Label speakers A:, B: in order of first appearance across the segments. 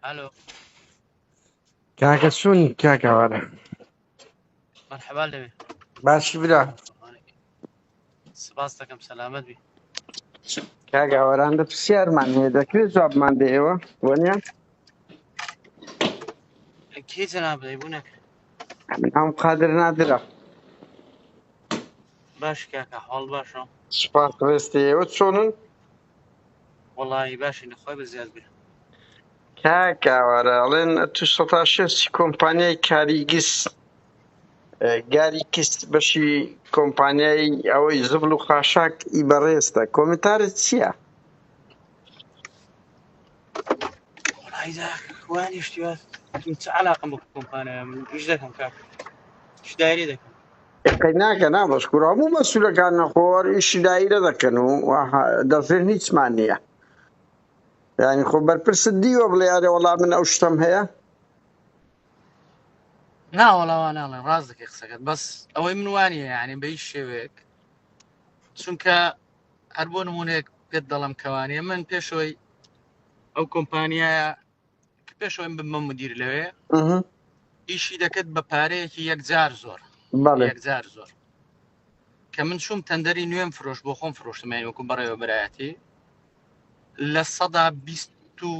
A: الو
B: کاکە چۆنی کاکەوارە
A: مرحبا لەوێ باشی برا
B: سپاس
A: دەکەم سەلامەت بی
B: کاگاوەران دە پرسیارمان هەیە دەکرێت جوابمان دەیەوە وەنیە
A: کی جناب دەی بوو نەکرد ئەم
B: قادر نادرە
A: باش کاکە حاڵ باشە سپاس ڕێستی
B: ئێوە چۆنن
A: وڵی باشی نەخوای بە زیاد بێ
B: کاکاوارە ئەڵێن تو سەتا شێستی کۆمپانیای کاریگیس گاری کیس بەشی کۆمپانیای ئەوەی زبل و خاشاک ئی بەڕێزتە کۆمنتارت چییە؟
A: ئایدا وانی شتیا من چ علاقم بە کۆمپانیا من ئیش دەکەم کار ئیش دایری دەکەم قەی ناکە نا
B: بەس کوور هەموو مەسوولەکان نەخۆوەر ئیشی دایرە دەکەن و دەفرێن هیچمان نییە ینی خۆ بەرپرس دیوە بڵێ ئەرێ وەڵام من ئەو شتم هەیە
A: ناوەڵاوا ناڵێن ڕاست دەکەی قسەکەت بەس ئەوەی من وانە یعنی بەی شێوەیەک چونکە هەر بۆ نمونەیەک پێت دەڵم کەوانێ من پێشەوەی ئەو کۆمپانیایە پێشەوەی بمە مدیر لەوێ
B: ئیشی دەکرد
A: بە پارەیەکی یەکجار زۆر
B: یەکجار زۆر
A: کە من چوم تەندەری نوێم فرۆش بۆ خۆم فرۆشتمای وەکو بەڕێوە برایەتی لە سەدا بیست و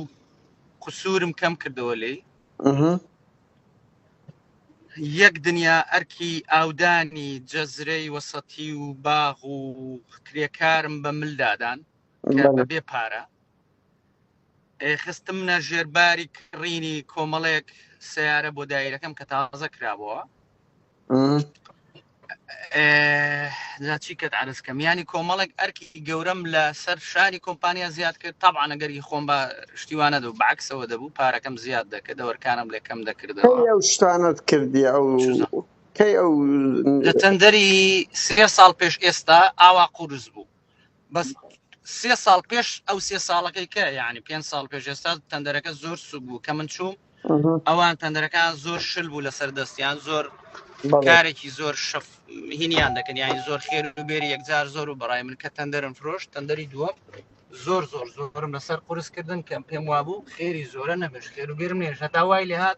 A: قسوورم کەم کردەوە لی یەک دنیا ئەرکی ئاودانی جەزرەی وەسەتی و باغ و کرێکارم بە ملدادان کە بە بێ پارە خستم نە ژێرباری کڕینی کۆمەڵێک سیارە بۆ دایرەکەم کە تازە کرابەوە چی کەت عرزکەم ینی کۆمەڵێک ئەرکی گەورەم لە سەر شاری کۆمپانیا زیاد کرد تاعاە گەری خۆم بە شتیوانە دەو بەعکسەوە دەبوو پارەکەم زیاد دەکە دەوەرکانم لەکەم دەکردەوە ئەو شتانت
B: کردی ئەو کەی ئەو لە تەندەری
A: سێ ساڵ پێش ئێستا ئاوا قورس بوو بەس سێ ساڵ پێش ئەو سێ ساڵەکەی کە یعنی پێنج ساڵ پێش ئێستا تەندەرەکە زۆر سوک بوو کە من چوو ئەوان
B: تەندەرەکان
A: زۆر شل بوو لەسەر دەستیان زۆر کارێکی
B: زۆر شەف
A: هینیان دەکەن یانی زۆر خێر و بێری یەکجار زۆر و بەڕای من کە تەندەرم فرۆش تەندەری دووە زۆر زۆر زۆرم لەسەر قرسکردن کەم پێم وابوو خێری زۆرە نەبش خێر و بێرم نێژ هەتا وای لێهات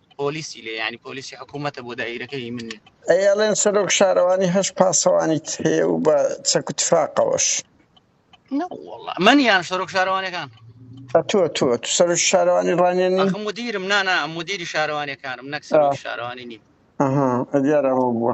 A: پۆلیسی لێ ینی پۆلیسی حکوومەتە بۆ دایرەکەی من ئەیڵێن سەرۆک
B: شارەوانی هەش پاسەوانیت هەیە و بە چەک و تفاقەوەش
A: من یان سەرۆک شارەوانەکان تۆ تۆ
B: سەر شارەوانی ڕانێن ئەخم مدیرم نانا
A: مدیری شارەوانەکانم نەک سەر شارەوانی نیم ئەها دیارەوە
B: بووە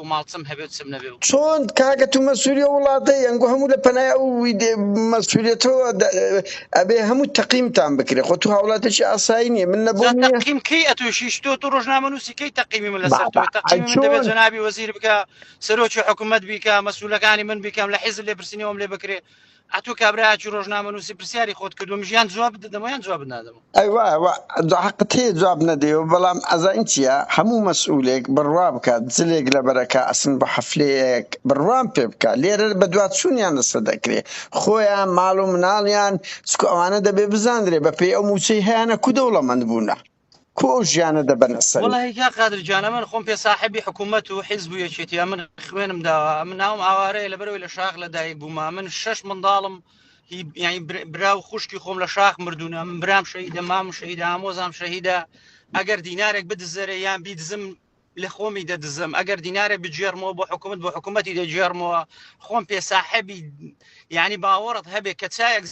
A: و ماڵچم هەبێ و چم نەبێ و. چۆن کاکە تو
B: مەسولی ئەو وڵاتەی ئەنگۆ هەموو لە پەنای ئەو ویدێ مەسولیەتەوە دە ئەبێ هەموو تەقیمتان بکرێ خۆ تو هاوڵاتێکی ئاسایی نیە من لە جا بۆ نیە تەقیم کەی ئەتوشیش
A: تۆ تو ڕۆژنامە نووسی کەی تەقیمی من لەسەر تۆی تەقیمی من دەبێ چۆن جەنابی وەزیر بکا سەرۆکی حکومەت بیکا مەسولەکانی من بیکەم لە حیزب لێپرسینەوەم لێ بکرێ ئەتو کابراچی ڕۆژنامەنووسی پرسیاری خۆت کردوم ژیان جواب دەدەمەیان جواب نادەمە
B: ئەیوا حقت هەیە جواب نەدەیەوە بەڵام ئەزانین چییە هەموو مەسئولێک بڕوا بکات جلێک لە بەرەکە ئەسن بە حەفلەیەک بڕوام پێ بکە لێرە بە دواچوونیان لەسەر دەکرێ خۆیان ماڵ و مناڵیان چکو ئەوانە دەبێ بزانرێ بەپێی ئەو مووچەی هەیانە کو دەوڵەمەند بوونە کو ئەو ژیانە دەبەنە سەری وەڵاهی کاک قادر گیان
A: ئەمن خۆم پێ ساحەبی حکوومەت و حیزب و یەکێتی ئەمن خوێنم داوە ئەمن ناوم ئاوارەیە لەبەرەوەی لە شاخ لەدایک بووم ئەمن شەش منداڵم هی یانی بر- برا و خوشکی خۆم لە شاخ مردوونە من برام شەهیدە مام شەهیدە ئامۆزام شەهیدە ئەگەر دینارێک بدزەرە یان بیدزم لە خۆمی دەدزم ئەگەر دینارێک بگێڕمەوە بۆ حکوومەت بۆ حکوومەتی دەگێڕمەوە خۆم پێ ساحەبی یعنی باوەڕت هەبێ کە چایەک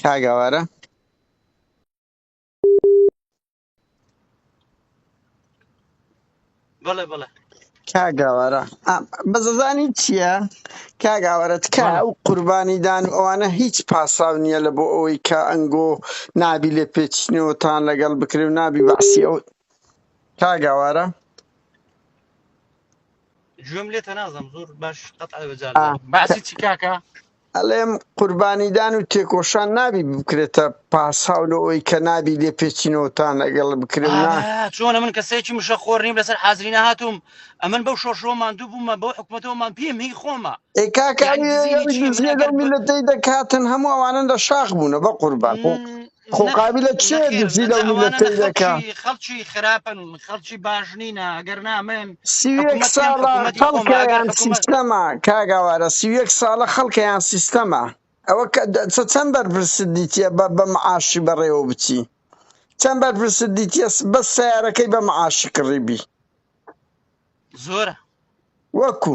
B: کاک ئاوارە
A: بەڵێ بەڵێ کاگاوارە
B: بەزەزانی چییە کاگاوارە تکا ئەو قوربانی دان و ئەوانە هیچ پاساو نییە لە بۆ ئەوەی کە ئەنگۆ نابی لێ پێچینەوەتان لەگەڵ بکرێ و نابی بەعسی ئەو کاگاوارە
A: گوێم لێتە نازم زۆر باش قەت بەجار باسی چی کاکە ئەڵێم
B: قوربانیدان و تێکۆشان نابی بکرێتە پاساو لە ئەوەی کە نابی لێ پێچینەوەتان لەگەڵ بکرێ نا ئارا چۆنە من کەسێکی
A: مشە خۆر نیم لەسەر حازری نەهاتووم ئەمن بەو شۆرشەوە ماندوو بوومە بەو حکومەتەوە مام پیم هی خۆمە ئێ کاکە یعنی ئەوی دزینی ئەوی چی من
B: دزیە لەو ئەگەر ب... میلەتەی دەکاتن هەموو ئەوانن لە شاخ بوونە بە قوربان م، خۆ نەخ قابلە کێ نەخێر دزی لەو نەدە ئەوانە نە میلەتەی دەکا خەڵکی خەڵکی خراپن
A: خەڵکی باش نینە ئەگەر نامن سی و یەک حکوومەتیان ساڵە
B: حکوومەتی خۆمە خەڵکە ئەگەر یان حکوومەت سیستەمە کاگاوارە سی و یەک ساڵە خەڵکە یان سیستەمە ئەوە کە دە- چە- چەند بەرپرسد دیتیە بە بە معاشی بەڕێوە بچی چەند بەرپرسد دیتیە س- بەس سیارەکەی بە معاشی کڕیبی
A: زۆرە
B: وەکو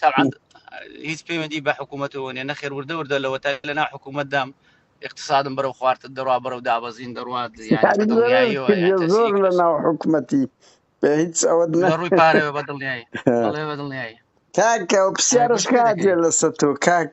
A: تەعاند هیچ پەیوەندی بە حکوومەتەوە نیە نەخێر وردە وردە لەوە تا لەنا حکوومەتدام اقتصادم بەرەو خوارد دەڕوا بەرەو دابەزین دەڕات
B: زۆر لە ناو حکوومەتی بە هیچ ئەوە ڕووی پارەوە بە
A: دڵنیایی بەڵێ بە دڵنیایی کاکە
B: پرسیارش کاتێ لەسەر تۆ کاک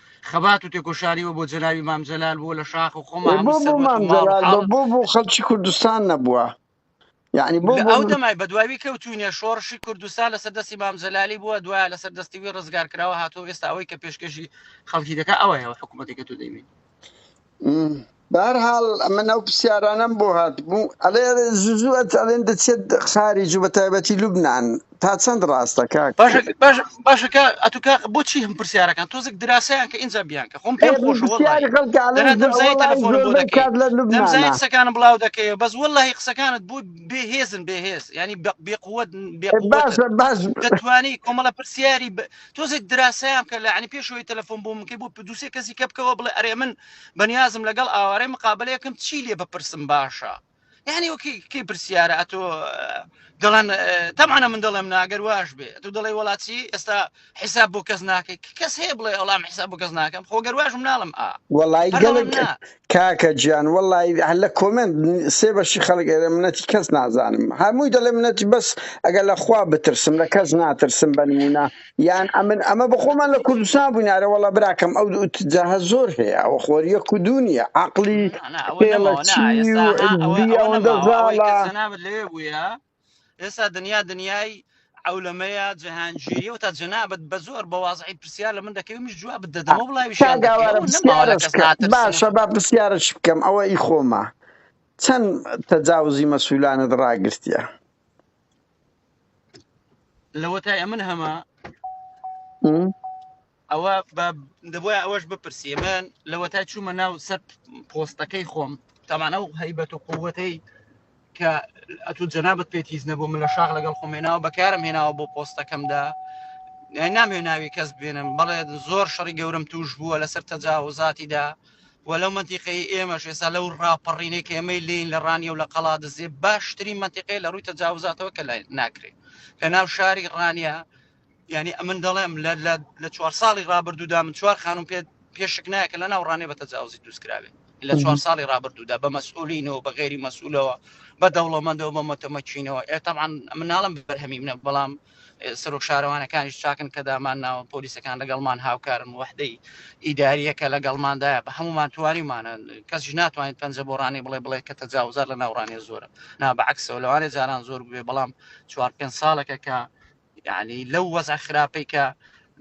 A: خەبات و تێکۆشاریوە بۆ جەنابی مام جەلال بووە لە شاخ و خۆمان بۆ بۆ مام جەلال بۆ بۆ بۆ خەڵکی کوردستان
B: نەبووە یعنی بۆ لە بۆ ئەو من دەمای بە دواوی
A: کەوتوینە شۆڕشی کوردستان لەسەر دەستی مام جەلالی بووە دوای لەسەر دەستی وی ڕزگار کراوە هاتۆ ئێستا ئەوەی کە پێشکەشی خەڵکی دەکە ئەوەیەوە حکوومەتێکە تو دەیبین بەرحاڵ
B: من ئەو پرسیارانم بۆ هاتبوو ئەلێ زوو ئەلێن دەچێت خاری جو بە تایبەتی لوبناان تا چەند ڕاستە کاک باشەکە
A: ئەتوکە بۆچی هەم پرسیارەکان تۆزێک دراسیان کە ئینجا بیان کە خۆم پێم خۆش کات لە لوبناانەکانم بڵاو دەکەی بەس وەلهی قسەکانت بوو بێهێزن بێهێز ینی بێقوت بێ
B: باش دەتوانی
A: کۆمەڵە پرسیاری تۆزێک دراسەیان بکە لە عنی پێشەوەی تەلەفۆن بۆ منکەی بۆ دووسێ کەسی کە بکەوە بڵێ ئەرێ من بەنیازم لەگەڵ ئاوارەی مقابلەیەکم چی لێ بپرسم باشە یعنی وەکی کەی پرسیارە ئەتۆ دەڵێن تەمانە من دەڵێم ناگەر واش بێ تو دەڵێ وڵاتی ئێستا حیساب بۆ کەس ناکەی کەس هەیە بڵێ ئەڵام حیساب بۆ کەس ناکەم خۆگەر واشم ناڵم ئا وەڵی گەڵک
B: کاکە گیان وەڵای هەر لە کۆمێنت سێ بەشی خەڵک ئێرە منەتی کەس نازانم هەمووی دەڵێ منەتی بەس ئەگەر لە خوا بترسم لە کەس ناترسم بە نموونە یان ئەمن ئەمە بە خۆمان لە کوردستان بووین ئارە وەڵا براکەم ئەو جاهە زۆر هەیە ئەوە خۆریە کو دوو نییە عەقڵی نا نا ئەوە نەماوە نا خێڵەکی ئێستا و ها ئەوە عززی ئەوە
A: ئەوەندە نەماوە ئەوەی کە زاڵە جەنابت لەوێ بوویە ئێستا دنیا دنیای عولەمەیە جەهانگیری و تا جەنابەت بە زۆر بە وازعی پرسیار لە من دەکەی منیش جواب دەدەمە و بڵاویشیان دەکەی کاگاوارە ئەوە نەماوە لە پرسیارەش کەس کە
B: ناترسم باشە با پرسیارەش بکەم ئەوە ئی خۆمە چەند تەجاوزی مەسولانت ڕاگرتیە
A: لەوەتای ئەمن هەمە م؟ ئەوە بە دەبواە ئەوەش بپرسیێ من لەوەتای چوومە ناو سەر پۆستەکەی خۆم تامانە و هەیبەت و قووەتەی کە ئەتو جەنابەت پێت هیچ نەبوو من لە شاخ لەگەڵ خۆمێناوە بەکارم هێناوە بۆ پۆستەکەمدا یان نامێ ناوی کەس بێنم بەڵێ زۆر شەڕی گەورم توش بووە لەسەر تەجاوزاتیدا و لەو منتیقی ئێمە شێسا لەو ڕاپەڕینێک ئێمەی لین لە ڕانیە و لە قەڵا دەزێ باشترین منتیقی لە ڕووی تەجاوزاتەوە کە لای ناکرێت لە ناو شاری ڕانیە یعنی ئەمن دەڵێم لە لە لە چوار ساڵی ڕابردوودا من چوار خانم پێ پێشک نایکە لە ناوڕانێ بە تەجاوزی دووسکراوێ لە چوار ساڵی ڕابردوودا بە مەسئولینەوە بە غێری مەسئولەوە بە دەوڵەمەندەوە بە مەتەمەچینەوە ئێ تاعاان مناڵم بەرهەمی منە بەڵام سەرۆک شارەوانەکانیش چاکن کە دامان ناوە پۆلیسەکان لەگەڵمان هاوکارن وحدەی ئیداریە کە لەگەڵماندایە بە هەمومان توانیمانە کەس ناتوانین پەنجە بۆ ڕانی بڵێ بڵێ کە تەجاوزار لە ناوڕانێ زۆرە نا بەعکسەوە لەوانێ جاران زۆر بێ بەڵام چوار پێ ساڵەکە کە یعنی لەو وەزع خراپەی کە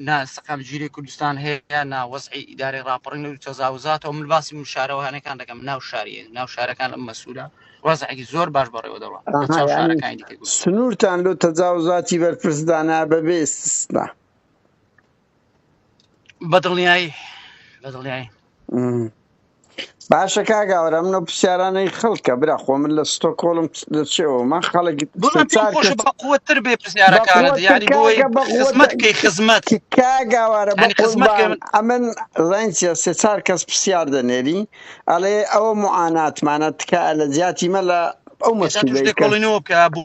A: نا سەقام گیری کوردستان هەیە نا وەزعی ئیدارەی راپەڕین و تەزاوزاتەوە من باسی من شارەوانەکان دەکەم ناو شاریە ناو شارەکان ئەم مەسوولە وەزعێکی زۆر باش بەڕێوە دەڕوان لە ئاها چاو یعنی شارەکانی دیکە گوتم
B: سنوورتان لۆ تەجاوزاتی بەرپرسدانا بەبێ ئیستیسنا
A: بەدڵنیایی بەدڵنیایی
B: باشە کاگاورە منە پرسیارانەی خەڵکە برا خۆ من لە ستۆ کۆڵم لە چێەوە من خەڵک قوتر بێ پرسیارەکانت یاری
A: بۆی خزمەت کەی خزمەت کاگاوارە بە
B: قزمان ئەمن ڕەنجە سێ چار کەس پرسیار دەنێری ئەڵێ ئەوە معاناتمانە تکایە لە زیاتی مە لە ئەو مەسیبەی کۆڵینەوە بکە
A: بوو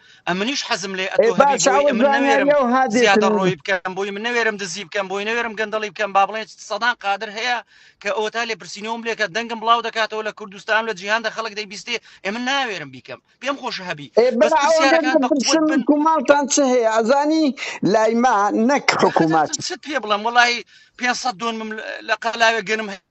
A: ئەمنیش حەزم لێ ئەتۆ هەبی بۆی من نەوێرم زیادە ڕۆی بکەم بۆی من نەوێرم دزی بکەم بۆی نەوێرم گەندەڵی بکەم با بڵێن سەدان قادر هەیە کە ئەو تا لێ پرسینەوەم لێکە دەنگم بڵاو دەکاتەوە لە کوردستان لە جیهان دە خەڵک دەیبیستێ ئێمە ناوێرم بیکەم پێم خۆش هەبی کوماڵتان
B: چ هەیە ئەزانی لایما نەک حکوومەت پێ بڵم وڵی
A: پێ دۆنم لە قەلاوێ گەنم هەیە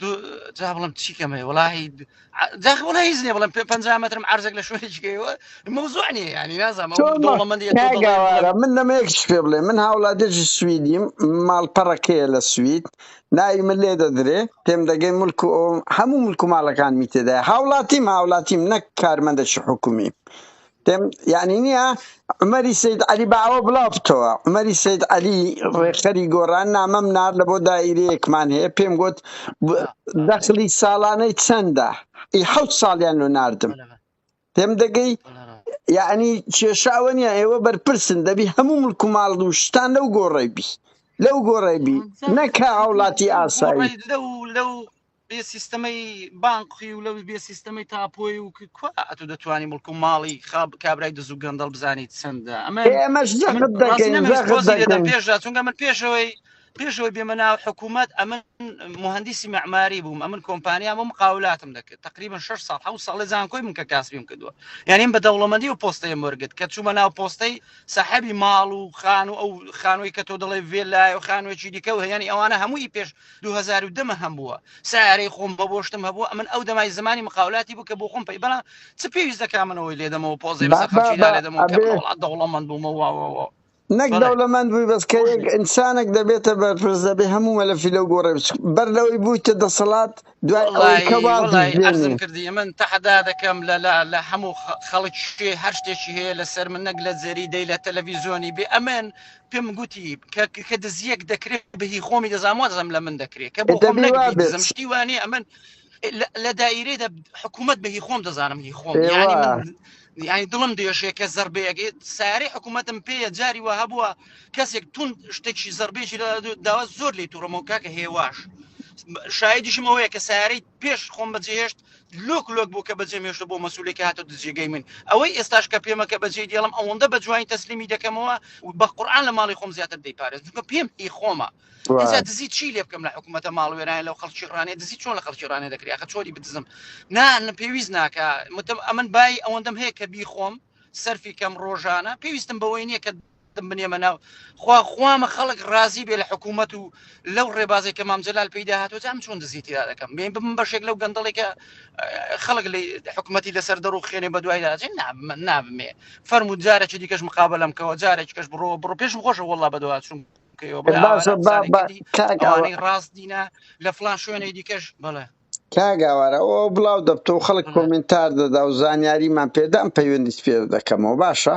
A: دو جا بڵم چی کەمەیە وڵی داخ وڵی هیچ نیە بڵم پێ پ مەترم عرزێک لە شوێنێکەوە مەوزوع نیە ینی نازانم ئەو چۆن مە- دەوڵەمەندی تۆ دەڵێ بڵێ کاگاوارە من
B: لەمە یەکیش پێ بڵێ من هاوڵاتێکی سویدیم ماڵپەڕەکەیە لە سوید ناوی من لێ دەدرێ تێم دەگەی ملک و ئەوم هەموو ملک و ماڵەکانمی تێدای هاوڵاتیم هاوڵاتیم نەک کارمەندەکی حکومی پێم یانی نییە عومەری سید عەلی بە ئەوە بڵاو بتەوە عومەری سید عەلی ڕێکخەری گۆڕان نامەم نار لە بۆ دایرەیەکمان هەیە پێم گوت دەخلی ساڵانەی چەندە ئی حەوت ساڵیان لۆ ناردم پێم دەگەی یعنی کێشە ئەوە نیە ئێوە بەرپرسن دەبی هەموو ملک و ماڵ و شتان لەو گۆڕی بی لەو گۆڕی بی نەکە هاوڵاتی ئاسایی لەو لەو
A: بێ سیستەمەی بانقی و لەوی بێ سیستەمەی تاپۆی و کوا ئەتو دەتوانانی مڵک و ماڵی خاب کابرای دز و گەندەڵ بزانیت چەندە ئەمە ئێمەش من جەخت ڕازی دەکەین نەمە هیچ
B: جەخت تۆزی لێدەم دەکەین پێشدا چونکە من
A: پێشەوەی پێشەوەی بێمە ناو حکوومەت ئەمن مهندسی معماری بووم ئەمن کۆمپانیام و مقاولاتم دەکرد تقریبا 6 سال حو ساڵی زانکۆی من کە کاسبیم کردووە یعنی بە دەوڵەمەندی و پۆستەیە مەرگت کە چوومە ناو پۆستەی سەحەبی ماڵ و خان و ئەو خانووی کە تۆ دەڵێ وێ لای و خانوێکی دیکە و هەیەنی ئەوانە هەمووی پێش دوو هەزار و دە مە هەم بووە سیارەی خۆم بە بۆشتم هەبووە ئەمن ئەو دەمای زمانی مقاولاتی بوو کە بۆ خۆم پێی بەڵام چ پێویست دەکا منەوەی لێدەمەوە پۆزی بەسەر بابا خەڵکی بە نالێدەمەوە کە من ئەبێ وڵات دەوڵەمەند بوومەوە نەک بەڵێ
B: دەوڵەمەند بووی بەس کە خۆش یەک بێ ئینسانێک دەبێتە بەرپرس دەبێ هەموو مەلەفی لەو گۆڕێ بچ بەر لەوەی بوویتە دەسەڵات دوای ئەوەی کە وەڵی وەڵی وازیش عەرزم بێنی
A: کردی من تەحەدا دەکەم لە لە لە هەموو خە- خەڵک شتێ هەر شتێکی هەیە لەسەر من نەک لە جێری دەی لە تەلەڤیزیۆنی بێ ئەمن پێم گوتی کە کە دزیەک دەکرێت بەهی خۆمی دەزانام وا دەزم لە من دەکرێت کە بۆ خۆم دەبی وا نەگری بێت دزم شتی وانێ ئەمن لە- لە دایرێدا حکوومەت بەهی خۆم دەزانم هی خۆم ئێوە یعنی من یعنی دڵم دێشێ کە زربەیەگەێت ساری حکوومەتم پێە جاری وە هەبووە کەسێک تون شتێکی زربێکی لە داوا زۆر لی توڕمەوە کاکە هێواش شایدیشم ئەوەیە کە سارەی پێش خۆم بەجێ هێشت لۆک لۆک بوو کە بەجێم هێشت بۆ مەسولێکی هاتە دجێگەی من ئەوەی ئێستاش کە پێمە کە بەجێ دێڵم ئەوەندە بە جوانی تەسلیمی دەکەمەوە بە قورآن لە ماڵی خۆم زیاتر دەیپارێز چونکە پێم ئی خۆمە ئێجا سوار دزی چی لێ بکەم لە حکوومەتە ماڵوێران لەو خەڵکی ڕانێ دزی چۆن لە خەڵکی ڕانێ دەکری خە چۆری بدزم نا نە پێویست ناکە متم ئەمن بای ئەوەندەم هەیە کە بی خۆم سەرفی کەم ڕۆژانە پێویستم بەوەی نییە کە دەم بنێمە ناو خوا خوامە خەڵک ڕازی بێ لە حکوومەت و لەو ڕێبازێک کە مام جلال پیدا هاتۆ جام چۆن دزی تیا دەکەم بێن بم بەشێک لەو گەندەڵێکە خەڵک لە حکوومەتی لەسەر دەڕوو خێنێ بە دوای داجێ نابمن نابمێ فەرمو جارێکی دیکەش مقابە لەم کەەوە جارێک کەش بڕۆ بڕۆ پێشم خۆشە وڵا بەدووا چوم کەەوە بڵێ ئاوارە باشە با بزانێ با کەدی کاک ئەوانەی ڕاست دینە لە فلان شوێنێ دیکەش بڵێ کاگاوارە
B: ئەوە بڵاو دەبتەوە خەڵک بڵێ کۆمنتار دەدا و زانیاریمان پێدام پەیوەندیت پێ دەکەمەوە باشە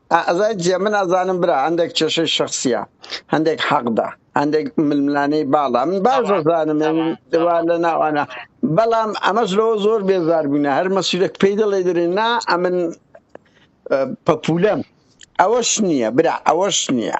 A: ئازای جیە من
B: ئەزانم برا هەندێک کێشەی شەخسیە هەندێک حەقدە هەندێک ململانێی باڵا من باش ئەزانم دوا لە ناوانە بەڵام ئەمەش لەوە زۆر بێزار بووینە هەر مەسیرەک پێی دەڵێ دەێن نا ئەمن پەپولەم ئەوەش نییە برا ئەوەش نییە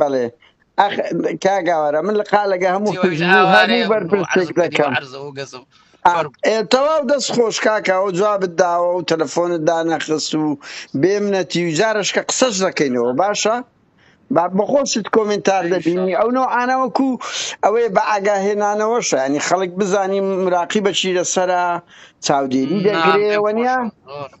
A: بەڵێ
B: ئەخ کاک ئاوارە من لە قالەگە هەموو جی وەش حزب و ئاوارێ هەموو بۆ عەرز بەرپرسێک بکەنی بۆ دەکەم عەرز و گەز و ئا، فەرم ئێ، تەواو دەست خۆش کاکە ئەو جوابت داوە و تەلەفۆنت دانەخست و بێمنەتی و جارش کە قسەش دەکەینەوە باشە با بەخۆشت کۆمنتار ان شاء دەبینی الله ئەو نەوعانە وەکو ئەوەیە بە ئاگاهێنانەوەشە ینی خەڵک بزانی مراقیبەچی لەسەرە چاودێری نا دەگرێ پێم وەنیە خۆشە زۆرم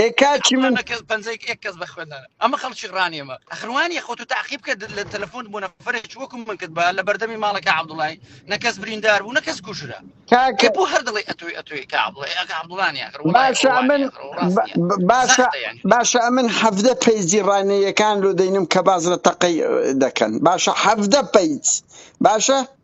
A: ئێ کاکی من کاکە باشە ئەمن با- با- باشە
B: باشە ئەمن حەفدە پەیجی ڕانەیەکان لۆ دەینم کە باز لە تەقەی دەکەن باشە حەفدە پەیج باشە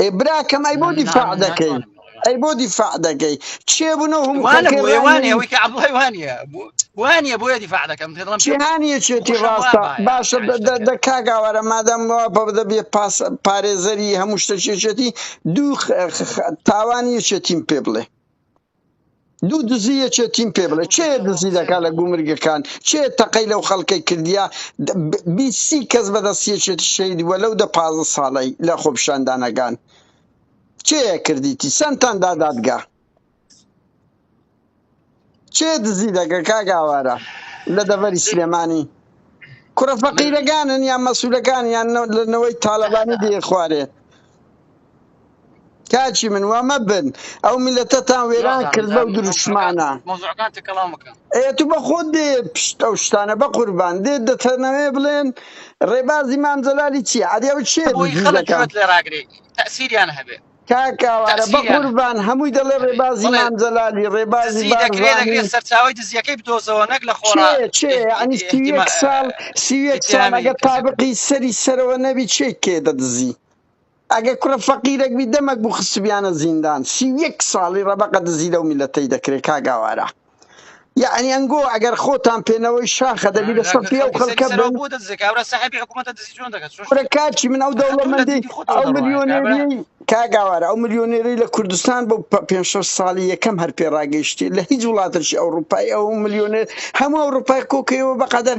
B: ئێ براکەم ئەی بۆ دیفاع دەکەی ئەی بۆ دیفاع دەکەی چێ بوون و هەموو وانە خەڵکی بۆیە ڕای وانە ئەوەی نەویست کە عەبدوڵای
A: وانە بۆ وانە بۆیە دیفاع دەکەم پێ دەڵم پێ جیهانیەکێتی
B: خۆشم وا ڕاستە بایە باشە داعش دە- دە- دەکەن دە کاگاوارە مادەم وا بە بدە بێ پاس پارێزەری هەموو شتەکێشێتی دوو خ- خ- خ- تاوان یەکێتیم پێ بڵێ دوو دزی یەکێ تیم پێ بڵێ چێ دزی دەکات لە گومرگەکان چێ تەقەی لەو خەڵکەی کردیا بیسی کەس بەدەستیەکێتی شەید وە لەو دە پازە ساڵی لە خۆپشاندانەکان چێ کردیتی سنتان دا دادگا چێ دزی دەکە کاگاوارە لە دەڤەری سلێمانی کوڕە فەقیرەکانن یان مەسوولەکان یان لەنەوەی تاالبانی دێ خوارێ کاکی من وا مەبن ئەو میلەتەتان وێران جوان کرد بەو مۆزوعەکان دروشمانە مۆزوعەکان تەکەڵاو مەکە ئێ تو بە خۆت دێ پشت ئەو شتانە بە قوربان دێ دەتەنەوێ بڵێن ڕێبازی مام جەلالی چی عەدی ئەو چێ بۆی خەڵک دزیزەکان گوێت لێ ڕاگرێ تەسیریان
A: هەبێ کاک ئاوارە بە تەسیریان
B: قوربان هەمووی دەڵێ هەبێ ڕێبازی بڵێ مام جەلالی ڕێبازی دزی دەکرێ دەکرێ بارزانی سەرچاوی
A: دزیەکەی بدۆزەوە نەک لە خۆڕا چێ چێ یعنی سی
B: و یەک ساڵ سی و یەک ساڵ ئتهامی ئەگەر کەسێک تابقی سەری سەرەوە نەبی چێ کێ دەدزی ئەگەر کوڕە فەقیرەک بی دەمەک بوو خستبیانە زیندان سی و یەک ساڵی ڕەبەقە دزی لەو میلەتەی دەکرێ کاک ئاوارە یەعنی ئەنگۆ ئەگەر خۆتان پێنەوەی شاخە دەبی لە سەفی ئەو خەڵکە بن کورە کاچی من ئەو دەوڵەمەندی ئەو ملیۆنێری کاک ئاوارە ئەو ملیۆنێری لە کوردستان بۆ پە- پێنج شەش ساڵی یەکەم هەر پێ ڕاگەیشتی لە هیچ وڵاتەکی ئەوروپای ئەو ملیۆنێر هەموو ئەوروپای کۆکەیەوە بەقەدەر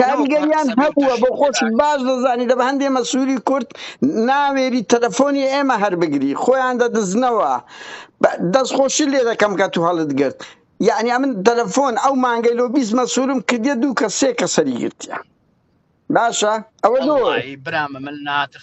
A: کاریگەریان
B: هەبووە بۆ خۆشت باش دەزانی دەبە هەندێ مەسووری کورد ناوێری تەلەفۆنی ئێمە هەر بگری خۆیان دەدزنەوە دەستخۆشی لێ دەکەم کە تو هەڵت گرت یعنی ئەمن تەلەفۆن ئەو مانگەی لۆ بیست مەسوورم کردە دوو کە سێ کە سەری گرتیان باشە ئەوە برامە من
A: ناتر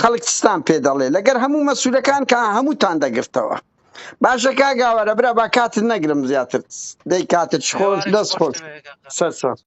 B: خەڵک چتان پێ دەڵێ لەگەر هەموو مەسولەکان کە هەمووتان دەگرتەوە باشە کاگاوەرە برا با کاتت نەگرم زیاتر دەی کاتت خۆش دەست خۆش سەرچاو.